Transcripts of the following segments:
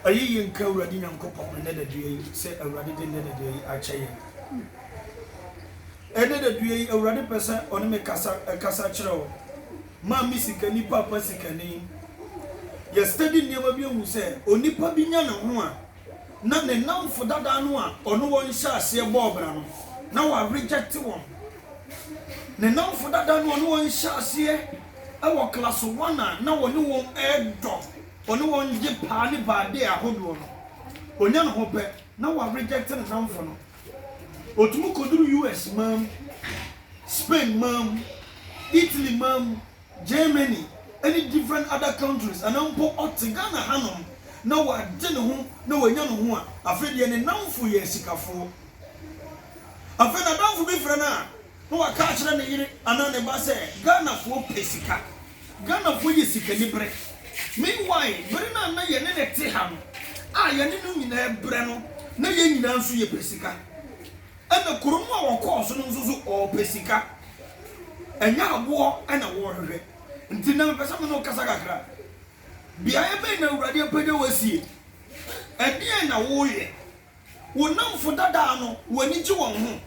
Ɛyɛ yie nka Awurade Nyankopɔn nnɛ dadua yi sɛ Awurade de nnɛ dadua yi akyɛ yɛn. Ɛnnɛ dadua yi Awurade pɛ sɛ ɔne me kasa ɛkasa kyerɛ wo. Maame sikani, papa sikani. Yɛ study nneɛma bi ahu sɛ onipa bi nya ne ho a, na ne nnamfo dada no a ɔne wɔn hyɛɛ aseɛ bɔɔ bra no, na wɔarejɛkte wɔn. Ne nnamfo dada no a ɔne wɔn hyɛɛ aseɛ wɔ klass one a na ɔne wɔn redɔ, ɔne wɔn gye paa ne baadee ahodoɔ no, ɔnya ne ho pɛ na wɔarejɛkte ne nnamfo no. Ɔtumi kɔduru US man mu, Spain man mu, Italy man mu, Germany ne different other countries anaa mpo ɔte Ghana hanom na w'agye ne ho na w'anya ne ho a afei deɛ ne namfo yɛ asikafoɔ. Afei n'adamfo bi frɛ no a na w'aka akyerɛ ne yere anaa ne ba sɛ Ghanafoɔ pɛ sika, Ghanafoɔ yɛ sikaniberɛ. Meanwhile bere no a na yɛne no te ha no a yɛne no nyinaa brɛ no na yɛn nyinaa nso yɛpɛ sika. Ɛna kuro mu a wɔkɔɔ so no nso so wɔpɛ sika. Ɛnyɛ aboɔ na wɔrehwehwɛ. Nti nnɛ mepɛ sɛ me ne wo kasa kakra. Beaeɛ bɛn na Awurade apagya wo asie? Ɛdeɛn na woreyɛ? Wo nnamfo dada no, w'ani gye wɔn ho?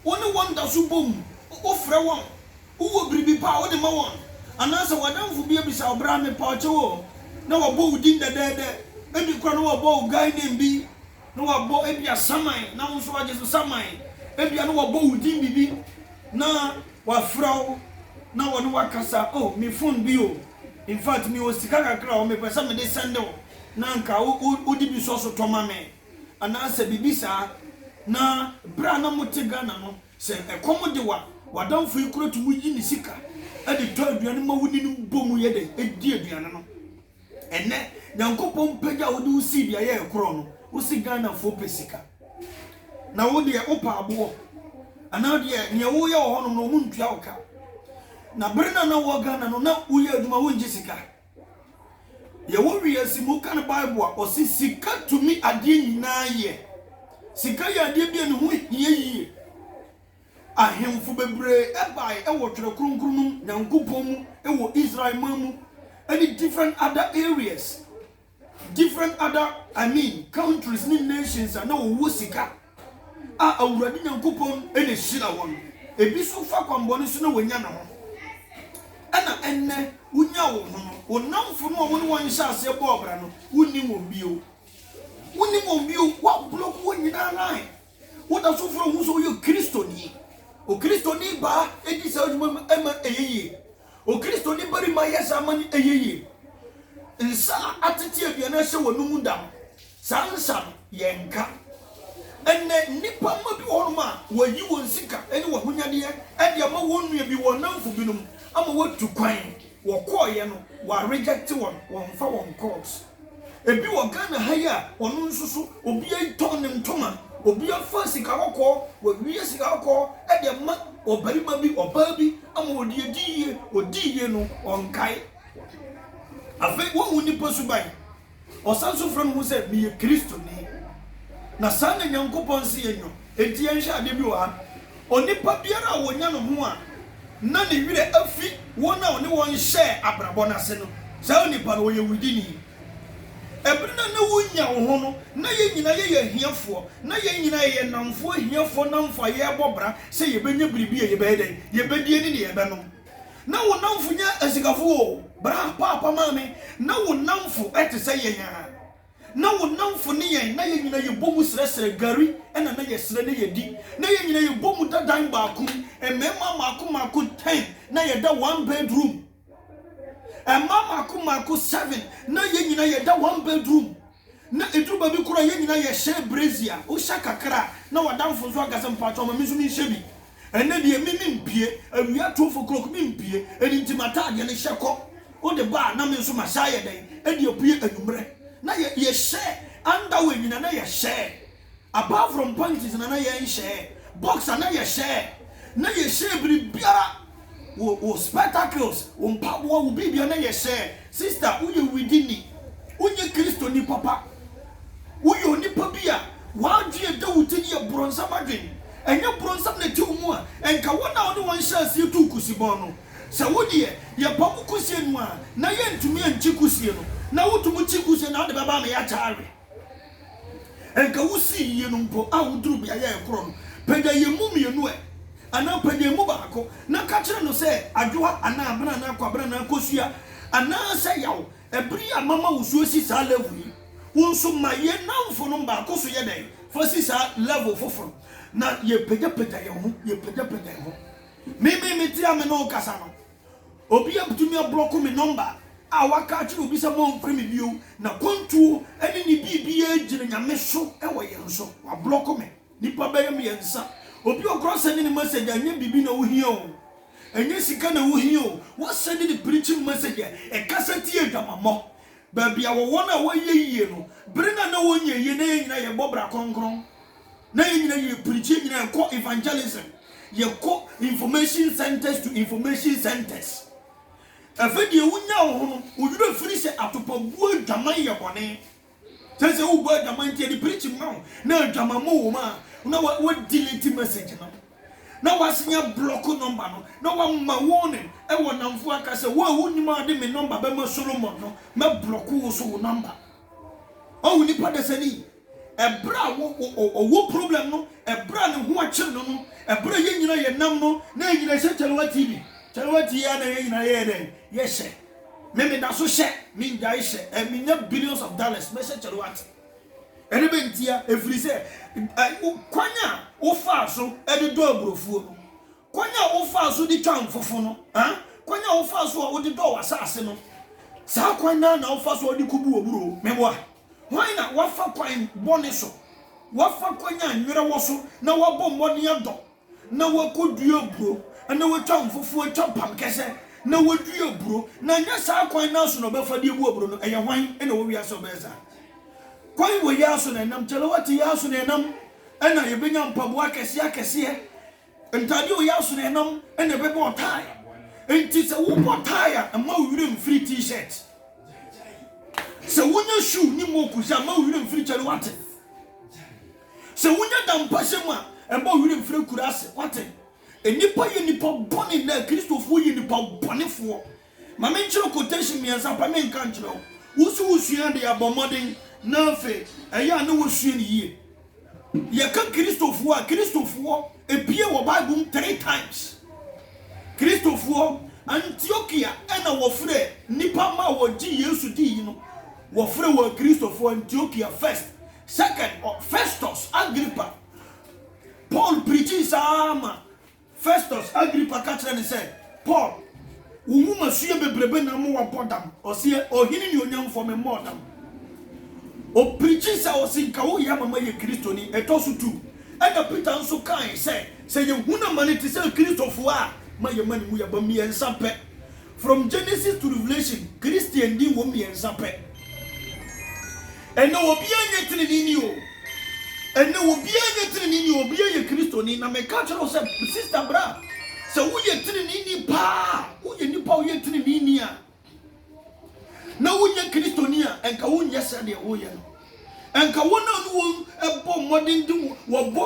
Wo ne wɔn da so bom? Wofrɛ wɔn? Wowɔ biribi pa a wode ma wɔn? Anaasɛ w'adamfo bi abisa wo bra me pa kyɛw o, na wabɔ wo din dɛdɛɛdɛ, ebi koraa na wabɔ wo guy name bi na wɔabɔ ebia saman na wo nso woagye so saman, ebia na wɔabɔ wo din biribi na wɔafrɛ wo na wɔne wo akasa, oh me phone bi o, in fact mewɔ sika kakra o, mepɛ sɛ mede sɛnde wo na anka wode bi sɔ so tɔ ma me anaasɛ biribi saa. Na berɛ a na mote Ghana no, sɛ ɛkɔm de wo a, w'adamfo yi koraa tumi yi ne sika de tɔ aduane ma wo ne no bɔ mu yɛ dɛn, di aduane no. Ɛnɛ Nyankopɔn mpagya wo de wo sii beaeɛ a ɛkorɔn no, wo se Ghanafoɔ pɛ sika. Na wo deɛ wopɛ aboɔ. Anaa deɛ nea woyɛ wɔ hɔnom no wɔntua wo ka. Na bere no a na wowɔ Ghana no na woyɛ adwuma wongye sika. Deɛ wowie asi mu woka no Bible a, ɔse sika tumi adeɛ nyinaa yɛ. Sika yɛ adeɛ bi a ne ho hia yie. Ahemfo bebree bae wɔ twerɛ kronkron no mu Nyankopɔn mu wɔ Israel man mu ne different other areas different other I mean countries ne nations a na wɔwɔ sika a Awurade Nyankopɔn na ɛhyira wɔn ebi nso fa kwanbɔne so na wɔnya ne ho ɛna ɛnnɛ wonya wo ho no wo namfo no a wɔne wɔn hyɛ aseɛ bɔɔ bra no wonnim wɔn bio wonnim wɔn bio woablɔk wɔn nyinaa line Wode afoforo hu sɛ woyɛ Kristoni. Okristoni baa di saa adwuma no ma ɛyɛ yie. Okristoni barima yɛ saa ma no ɛyɛ yie. Nsa a atete aduane ahyɛ w'anom da no, saa nsa no, yɛnka. Ɛnnɛ, nnipa mma bi wɔ hɔnom a wɔayi wɔn sika ne wɔn ahonyadeɛ de ama wɔn nua bi, wɔn nnamfo binom ama wɔatu kwan. Wɔkɔeɛ no, wɔarejɛkte wɔn, wɔmfa wɔn nkɔɔ. Ebi wɔ Ghana ha yi a ɔno nso so obi atɔn ne ntoma, obi afa sika kɔkɔɔ, wawia sika kɔkɔɔ de ama ɔbarima bi, ɔbaa bi ama ɔde adi yie, ɔdi yie no ɔnkae. Afei wahu nnipa suban, ɔsan so frɛ ne ho sɛ meyɛ Kristoni. Na saa na Nyankopɔn se yɛnyɔ. Enti yɛnhwɛ adeɛ bi wɔ ha. Onipa biara a wɔnya no ho a na ne werɛ afi wɔn a ɔne wɔn hyɛɛ abrabɔ no ase no, saa onipa no, ɔyɛ wudini. Ɛberɛ no a na wonya wo ho no, na yɛn nyinaa yɛyɛ ahiafoɔ. Na yɛn nyinaa yɛyɛ nnamfoɔ ahiafoɔ nnamfo a yɛrebɔ bra sɛ yɛbɛnya biribi a yɛbɛyɛ dɛn? Yɛbɛdie ne deɛ yɛbɛnom. Na wo nnamfo nyɛ asikafoɔ o. Bra, paapa, maame, na wo nnamfo te sɛ yɛn ara. Na wo nnamfo ne yɛn, na yɛn nyinaa yɛbɔ mu srɛsrɛ gari na na yɛsrɛ na yɛdi. Na yɛn nyinaa yɛbɔ mu da dan baako mu, mmarima mmaako mmaako ten na yɛda one bedroom, mmaa mmaako mmaako seven na yɛn nyinaa yɛda one bedroom. Na ɛduru baabi koraa a yɛn nyinaa yɛhyɛ brazier, wohyɛ kakra a na w'adamfo nso aka sɛ mpakyɛw ma me nso menhyɛ bi. Ɛnnɛ deɛ me mempue, awia twelve o'clock mempue, ɛno nti m'ataadeɛ no hyɛ kɔ, wode ba a na me nso mahyɛ ayɛ dɛn de apue anwummerɛ. Na yɛ yɛhyɛ underwear nyina na yɛhyɛɛ, apart from panties na na yɛnhyɛɛ, boxer na yɛhyɛɛ, na yɛhyɛɛ biribiara. Wo wo spectacles, wo mpaboa, wo biribiara na yɛ hyɛɛ. Sister, woyɛ widini. Wonyɛ Kristoni papa. Woyɛ onipa bi a w'adwene a ɛda wo ti no yɛ bronsam adwene. Ɛnyɛ bronsam na ɛte wo mu a, ɛnka wɔn a wo ne wɔn hyɛɛ aseɛ tuu kusibɔn no. Sɛ wo deɛ, yɛpam kusie no a, na yɛntumi nkye kusie no. Na wotum kye kusie no a, wode bɛba ama yɛakyɛ awe. Anka wusii yiye no mpo a wuduruu beae a ɛkorɔn no, pagya yɛn mu mmienu ɛ, anaa pagya yɛn mu baako, na ka kyerɛ no sɛ, Adwoa anaa Abena anaa Kwabena anaa Kosua, anaasɛ Yaw, bere a mama wo so asi saa level yi, wo nso ma yɛn nnamfonom baako so yɛ dɛn? Fa si saa level foforo. Na yɛpagyapagya yɛn ho, yɛpagyapagya yɛn ho. Me, me, me te a me ne wo kasa no, Obi abtumi ablɔko me nɔmba a waka akyerɛ obi sɛ mɔnfrɛ me bio na kwantuo ne ne biribiaa gyina Nyame so wɔ yɛn so. Wablɔko me nipa bɛyɛ mmiɛnsa. Obi a ɔkora sɛnde ne message a ɛnyɛ biribi na wohia o, ɛnyɛ sika na wohia o, wasɛnde ne preaching message a ɛkasa tia adwamammɔ. Baabi a wɔwɔ no a wɔyɛ yie no, bere no a na wɔnyɛ yie na yɛn nyinaa yɛbɔ bra kronkron. na yɛn nyinaa yɛ preach yɛn nyinaa kɔ evangelism yɛkɔ information centers to information centers ɛfɛ deɛ wonya wo ho no woyerɛ firi sɛ atopabuo adwaman yɛ bɔne sɛ sɛ wobɔ adwaman nti ɛde preach ma wo na adwaman mu wo ma na wodelete message no na wasenya blɔko nɔmba no na wama warning ɛwɔ namfo aka sɛ wo a wonim a wode me nɔmba bɛma solomon no mɛblɔko wo so wo nɔmba Ohu nipa dasani ɛberɛ a ɔwɔ problem no, ɛberɛ a ne ho akyere no no, ɛberɛ a yɛn nyina yɛ nam no, na yɛn nyina hyɛ kyɛlewa ti bi. Kyɛlewa ti yɛ na yɛn nyina yɛyɛ dɛn? Yɛhyɛ. Me meda so hyɛ, mengyae hyɛ, ɛ menya billions of dollars, mɛhyɛ kyɛlewa ti. Ɛdɛ bɛ ntia, ɛfiri sɛ kwan a wofaa so de dɔ aburofuo no, Kwan a wofaa so de twaa mfofo no, ah, kwan a wofaa so a wode dɔɔ w'asase no, saa kwan no ara na wofa so a wode kobu w'aburow. Meboa hwan na wafa kwan bɔne so, wafa kwan a nwera wɔ so na wabɔ mmɔden adɔ na wakodua aburow na watwa mfofo atwa pam kɛsɛ na wadua aburow, na ɛnyɛ saa kwan no ara so na ɔbɛfa de abu aburow no? Ɛyɛ hwan na ɛwɔ wiase a ɔbɛyɛ saa? Kwan wei ara so na ɛnam, Tselewɛt yi ara so na ɛnam na yebenya mpaboa akɛseɛ akɛseɛ. Ntade a wɔyɛ asono nam na ɛbɛbɔ ɔtae. Enti sɛ wobɔ tae a, mma wo werɛ mfiri T-shirt. Sɛ wonya shoe ne moccus a, mma wo werɛ mfiri kyɛ no. Wate? Sɛ wonya dampahyɛ mu a, mma wo werɛ mfiri akuraase. Wate? Nnipa yɛ nnipa bɔne nnɛ. Kristofoɔ yɛ nnipa bɔnefoɔ. Ma menkyerɛ quotation mmiɛnsa pɛ menka nkyerɛ wo. Wo nso wosua adeɛ a, bɔ mmɔden na afei ɛyɛ a na woasua no yie. Yɛka Kristofoɔ a, Kristofoɔ epue wɔ Bible mu three times. Kristofoɔ Antiokia ɛna wɔfrɛ nnipa ma wɔgye Yesu diiyi no. Wɔfrɛ wɔn Kristofoɔ Antiokia first. Second, Festus Agrippa. Paul preachii saa ara ma. Festus, Agripa ka kyerɛɛ no sɛ, Paul, wo nwomasua bebrebe na ama woabɔ dam. Ɔseɛ, Ohene nuonyamfoɔ, memmɔɔ dam. Ɔpirikyi sɛ ɔse, Nka woyɛ ama mayɛ Kristoni. Ɛtɔ so tu. Ɛna Peter nso kae sɛ, Sɛ yɛhunu amane te sɛ Kristofoɔ a, ma yɛmma ne mu yɛ ba mmiɛnsa pɛ. From Genesis to Revelation, Christiandi wɔ mmiɛnsa pɛ. Ɛnnɛ obiara nyɛ teneneeni o. Ɛnnɛ obiara nyɛ teneneeni o, obiara yɛ Kristoni. Na meka kyerɛ wo sɛ, sista bra, sɛ woyɛ teneneeni paa, woyɛ nipa a woyɛ teneneeni a, na wonyɛ Kristoni a, ɛnka wonyɛ sɛdeɛ woyɛ no. Ɛnka wɔn a ne wɔn bɔ mmɔden de wɔbɔ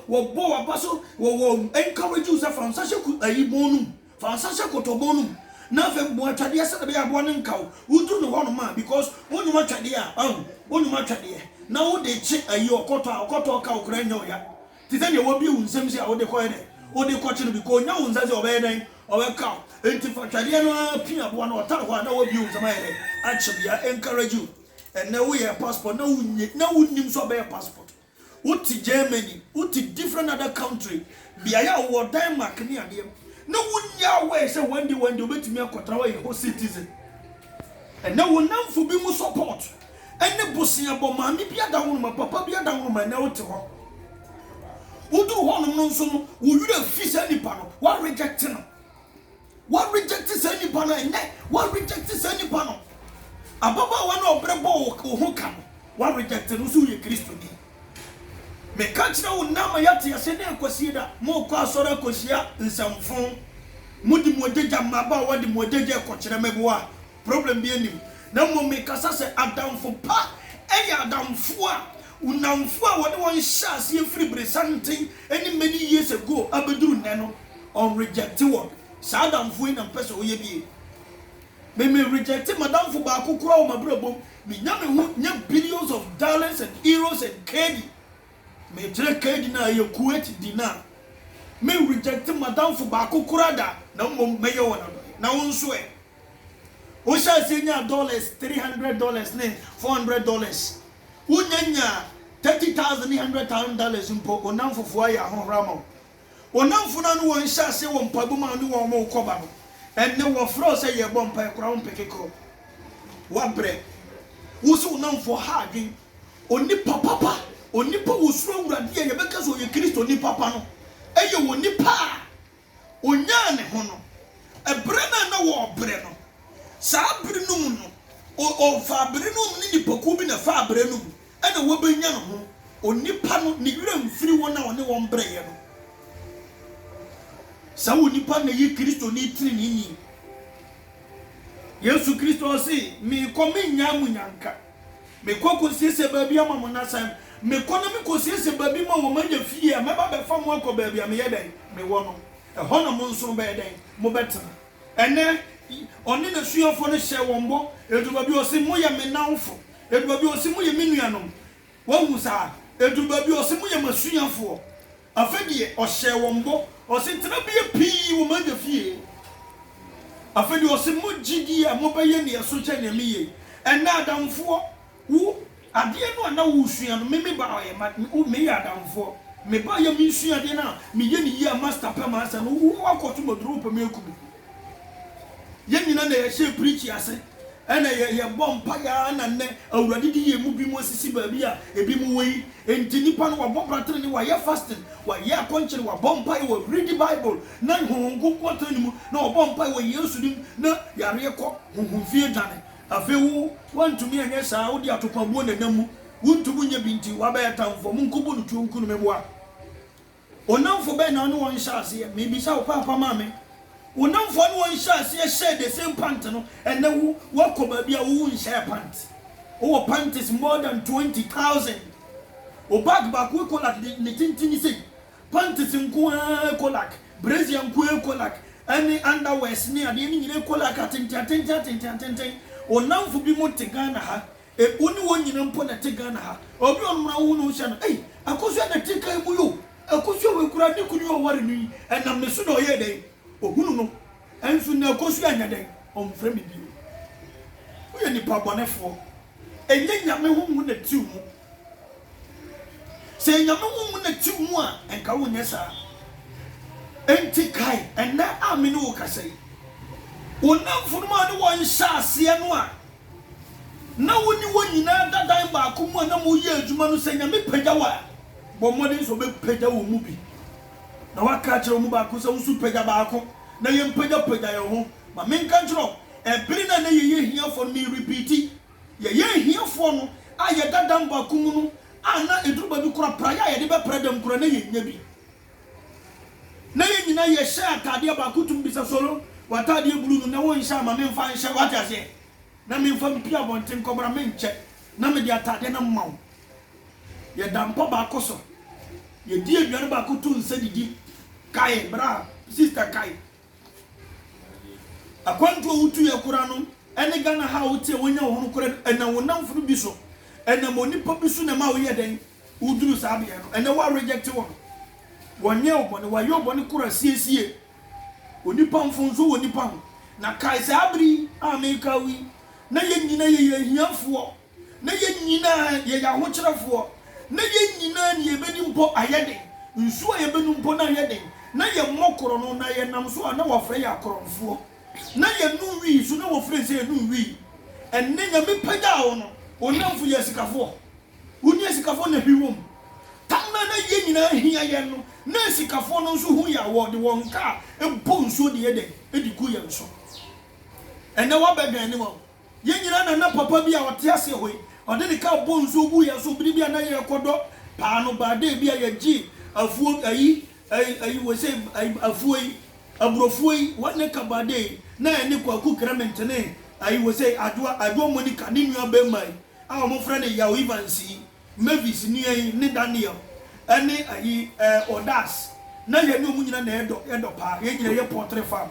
wɔbɔ w'aba so wɔwɔ encourage wo sɛ fa nsa hyɛ ayi bɔn no mu Fa nsa hyɛ kotɔbon no mu na afei boa twɛdeɛ sɛdeɛ ɛbɛyɛ a aboa no renka wo. Woduru no hɔnom a, because wonwoma twɛdeɛ a, wahu, wonwoma twɛdeɛ na wode rekye ayi ɔkɔtɔ a, ɔkɔtɔ reka wo koraa ɛnyɛ wo ya. Te sɛ deɛ wabue wo nsam sei a wode kɔyɛ dɛn? Wode rekɔkye no because ɔnya wo nsa sei a, ɔbɛyɛ dɛn? Ɔbɛka wo. Enti fa twɛdeɛ no ara pia aboa no, ɔtare hɔ a na wabue wo nsam ayɛ dɛn? Akye no. Yɛ encourage wo. Ɛnnɛ woyɛɛ passport na wonye, na wonnim sɛ ɔbɛyɛ passport. Wo te Germany, wo te different other country, beaeɛ a wowɔ Denmark ne adeɛ, na wonni aware sɛ one day one day wobɛtumi akɔtra hɔ ayɛ hɔ citizen. Ɛnnɛ wo nnamfo bi mu support ne boseabɔ, maame bi adaworoma, papa bi adaworoma, ɛnnɛ wote hɔ. Woduru hɔnom no nso no, wo werɛ fi saa nipa no, woa reject no. Wa reject saa nipa no ɛnyɛ wa reject saa nipa no ababaawa no a ɔbrɛ bɔ wo wo ho ka no wa reject no so woyɛ kristoni meka kyerɛ wo nna ma yɛte ase dɛ kwasie da mokɔ asɔre akɔhyia nsɛmfo mode mo agyagya mmabaawa de mo agyagya ɛkɔkyerɛ mɛboa Problem biaa nnim na mmom mekasa sɛ adamfo pa yɛ adamfo a nnamfo a wɔne wɔn hyɛɛ aseɛ firi beresanten ne many years ago abɛduru nnɛ no ɔn rejecte wɔn. Saa adamfoɔ yi na mpɛ sɛ ɔyɛ bie. Me me rejecte madamfo baako koraa wɔ mabrabɔ mu, menya me ho nya billions of dollars and euros and kd mekyerɛ kd no a ɛyɛ Kuwait dinar. Me rejecte madamfo baako koraa da na mmom mɛyɛ wɔn adɔeɛ. Na wo nso ɛ? Wo hyɛ aseɛ nyaa dollars three hundred dollars ne four hundred dollars wo nya nyaa thirty thousand ne hundred thousand dollars mpo wo namfofoɔ ayɛ ahohora ama wo. Wo namfo no a ne wɔn hyɛ aseɛ wɔ mpaebɔ mu a wo ne wɔn wo kɔ ba no ɛnnɛ wɔ frɛ wo sɛ yɛ bɔ mpaeɛ koraa wo mpɛ kekɔ wa brɛ. Wo se wo namfoɔ ha adwen onipa papa onipa wɔ suro awurade a yɛ bɛka sɛ ɔyɛ Kristo nipa pa no ɛyɛ onipa a. Onyaa ne ho no, ɛberɛ no a na wɔrebrɛ no. Saa bere no mu no, o, ɔfaa bere no mu ne nnipakuo bi na ɛfaa bere no mu na wɔbɛnya ne ho. Onipa no, ne werɛ mfiri wɔn a ɔne wɔn brɛeɛ no. Saa onipa no na ɛyɛ Kristoni teneneeni. Yesu Kristo, ɔse, Merekɔ, merennyaa mo nnyanka. Mekɔ kosiesie baabi ama mo na sɛ mekɔ na mekosiesie baabi ma wɔn anya fie a, mɛba abɛfa mo akɔ baabi a meyɛ dɛn? Mewɔ no. Ɛhɔ na mo nso mobɛyɛ dɛn? Mobɛtena. Ɛnnɛ, ɔne n'asuafoɔ no hyɛɛ wɔn bɔ. Ɛduru baabi a ɔse, Moyɛ me nnamfo. Ɛduru baabi a ɔse, Moyɛ me nuanom. Woahu saa? Ɛduru baabi a ɔse, Moyɛ m'asuafoɔ. Afei deɛ, ɔhyɛɛ wɔn bɔ, ɔse, Tenabeɛ pii wɔ m'Agya fie. Afei deɛ, ɔse, Mo gyidie a mobɛyɛ na ɛso kyɛn deɛ meyɛ yi. Ɛnnɛ, adamfoɔ, wo, adeɛ no a na woresua no, me mebaeɛ, ma, wo, meyɛ adamfoɔ. Mebaeɛ a meresua adeɛ no a, meyɛ no yie a, Master pɛ m'asɛm no, wo, woakɔto m'aduro, wopɛ me aku me. Yɛn nyina na yɛhyɛɛ preaching ase ɛna yɛ yɛbɔ mpaeɛ ara na nnɛ Awurade de yɛn mu binom asisi baabi a ebinom wɔ yi. Enti nipa no wabɔ bra tenenee, wayɛ fasting, wayɛ akɔnkyere, wabɔ mpaeɛ, wa readi Bible na Honhom Kronkron atena ne mu na wabɔ mpaeɛ wɔ Yesu din mu na yareɛ kɔ, honhom fi adwane. Afei wo woantumi anyɛ saa, wode atopabuo na ɛnam mu, wontumi nyɛ bi nti wabɛyɛ tamfoɔ. Monkɔbɔ no tuo nku no, meboa. Wo nnamfo bɛn na wo ne wɔn hyɛɛ aseɛ? Merebisa wo, Paapa maame. Wo nnamfo a wo ne wɔn hyɛɛ aseɛ hyɛɛ the same pant no, ɛnnɛ wo, woakɔ baabi a wo, wonhyɛɛ pant. Wowɔ panties more than twenty thousand. Wo bag baako ekolak de, ne tentene sei. Panties nko ara ekolak, brazier nko ara ekolak, ɛne underwears ne adeɛ no nyinaa ekolak, atenten-atenten-atenten-atenten. Wo nnamfo binom te Ghana ha, Wo ne wɔn nyina mpo na ɛte Ghana ha. Obi a ɔnom na wohu ne ho hyɛ no, ei, Akosua na ɛte kan mu yi o, Akosua wei koraa ne kunu yi a ɔware no yi, ɛnam ne so na ɔyɛɛ dɛn? Ɔhunu no. Nso nnɛ Akosua nyɛ dɛn? Ɔmfrɛ me bio. Woyɛ nnipa bɔnefoɔ. Ɛnyɛ Nyame honhom na ɛte wo mu. Sɛ ɛyɛ Nyame honhom na ɛte wo mu a, nka wonyɛ saa. Enti kae ɛnnɛ a me ne wo kasa yi, wo nnamfonom a wo ne wɔn hyɛɛ aseɛ no a, na wo ne wɔn nyinaa da dan baako mu a na moreyɛ adwuma no, sɛ Nyame pagya wo a, bɔ mmɔden sɛ wobɛpagya wɔn mu bi, na woaka akyerɛ wɔn mu baako sɛ, Wo nso pagya baako, na yɛmpagyapagya yɛn ho. Ma menka nkyerɛ wo, ɛbere no a na yɛyɛ ahiafoɔ no, merepiiti, yɛyɛ ahiafoɔ no a yɛda dan baako mu no, a na ɛduru baabi koraa a praeɛ a yɛde bɛpra dam koraa, na yɛnnya bi. Na yɛn nyinaa yɛ hyɛ ataadeɛ baako tumi bisa solo wɔ ataadeɛ blue no na wonhyɛ ama me mfa nhyɛ wate aseɛ na me mfa mpie abɔnten nkɔ bra me nkyɛ na me de ataadeɛ no mma wo yɛ da mpa baako so yɛ di aduane baako to nsa didi kae bra sister kae. Akwantu a wotu yɛ kora no ne Ghana ha a wote a wonya wo ho no kora no, ɛnam wo nnamfo no bi so, ɛnam onipa bi so na ɛma woyɛ dɛn? Woduru saa beaɛ no. Ɛnɛ wa reject wɔn, wɔnyɛɛ wo bɔne, wɔayɛ wo bɔne kora siesie. Onipa mfonso wɔ nipa ho. Na kae saa bere yi a meka wo yi, na yɛn nyina yɛyɛ ahiafoɔ. Na yɛn nyinaa yɛyɛ ahokyerɛfoɔ, na yɛn nyinaa nea yɛbɛdi mpo ayɛ den, nsuo a yɛbɛnom mpo na ayɛ den, na yɛmmɔ korɔno, na yɛnam so a na wɔafrɛ yɛn akorɔnfoɔ, na yɛnnom wii nso na wɔfrɛ yɛn sɛ yɛnnom wii. Ɛnnɛ Nyame pagyaa wo no, wo nnamfo yɛ asikafoɔ, wo ne asikafoɔ na hwi wom. Tam no a na yɛn nyinaa hia yɛn no, na asikafoɔ no nso hu yɛn a wɔde wɔn nkaa bɔ nsuo de yɛ dɛn? De gu yɛn so. Ɛnnɛ wɔabɛdwɛne wɔn. Yɛn nyinaa na na papa bi a ɔte ase hɔ yi, ɔde ne car bɔɔ nsuo guu yɛn so bere bi a na yɛrekɔdɔ paano baa dɛ bi a yɛgyee afuo ayi, ayi, ayi, wei sɛ ayi, afuo yi, aburofuo yi, one acre baa dɛ yi, na ɛne Kwaku Clement ne ayi, wei sɛ Adwoa, Adwoa Monica, ne nua barima yi a wɔfrɛ no Yaw Evans yi. Mavis nua yi ne Daniel ne ayi ɛɛ Odas na yɛne ɔmo nyina na yɛdɔ yɛdɔ paa yɛn nyina yɛ pɔtre farm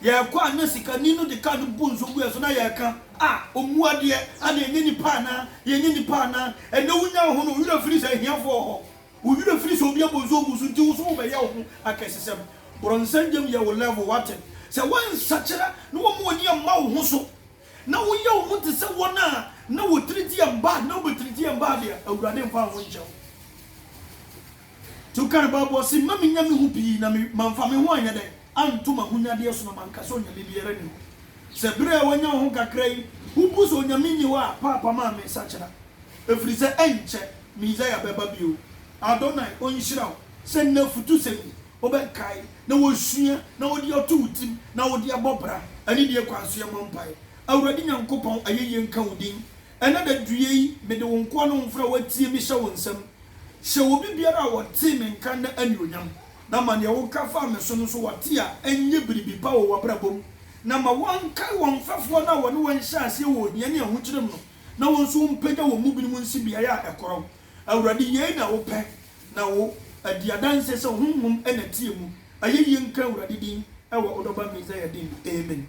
yɛkɔ a na sikani no de car no bu nso gu yɛn so na yɛka ah ɔmu adeɛ ana ɛnyɛ nipa anaa yɛnyɛ nipa anaa ɛnɛ wo nya woho no wo werɛ firi sɛ ahiafoɔ wɔ hɔ wo werɛ firi sɛ obi abɔ nso agu so nti wo so wo bɛ yɛ woho akɛsesɛm brɔnsɛn gyam yɛ wo level wate sɛ wo ansakyera na wɔn ani amma woho so Na woyɛ wo ho te sɛ wɔn a na wɔtiriti yɛn bad, na wobɛtiriti yɛn bad a, Awurade mfa wo ho nkyɛ wo. Nti woka no Bible ɔse, mma mennya me ho pii na mamfa me ho anyɛ dɛn, anto m'ahonyadeɛ so na manka sɛ onyame biara nni hɔ. Sɛ berɛ a woanya wo ho kakra yi, wobu sɛ onyame nni hɔ a, paapa maa me nsakyera. Ɛfiri sɛ ɛnkyɛ, Mesia bɛba bio. Adonai ɔnhyira wo sɛ nnɛ afutusɛm yi. Wobɛkae, na wosua, na wode ato wo tirim, na wode abɔ bra, ɛne deɛ kwan so yɛmmɔ mpaeɛ. Awurade Nyankopɔn, ayɛyie nka wo din. Ɛnnɛ daduyɛ yi, mede wo nkoa ne wo mfra a wɔatie me hyɛ wo nsam. Hyɛ obi biara a ɔtee me nka nnɛ anuonyam, na ma deɛ woka faa me so no nso wɔte a, ɛnyɛ biribi pa wɔ w'abrabɔ mu, na ma wɔnkae wɔn mfɛfoɔ no a wɔne wɔn hyɛɛ aseɛ wɔ ohia ne ahokyerɛ mu no, na wɔn nso wɔmpagya wɔn mu binom nsi beaeɛ a ɛkorɔn. Awurade, yei na wopɛ. Na wo adi adanse sɛ Honhom na ɛteɛ mu. Ayɛyie nka Awurade din wɔ wo dɔba Messiah din mu. Amen.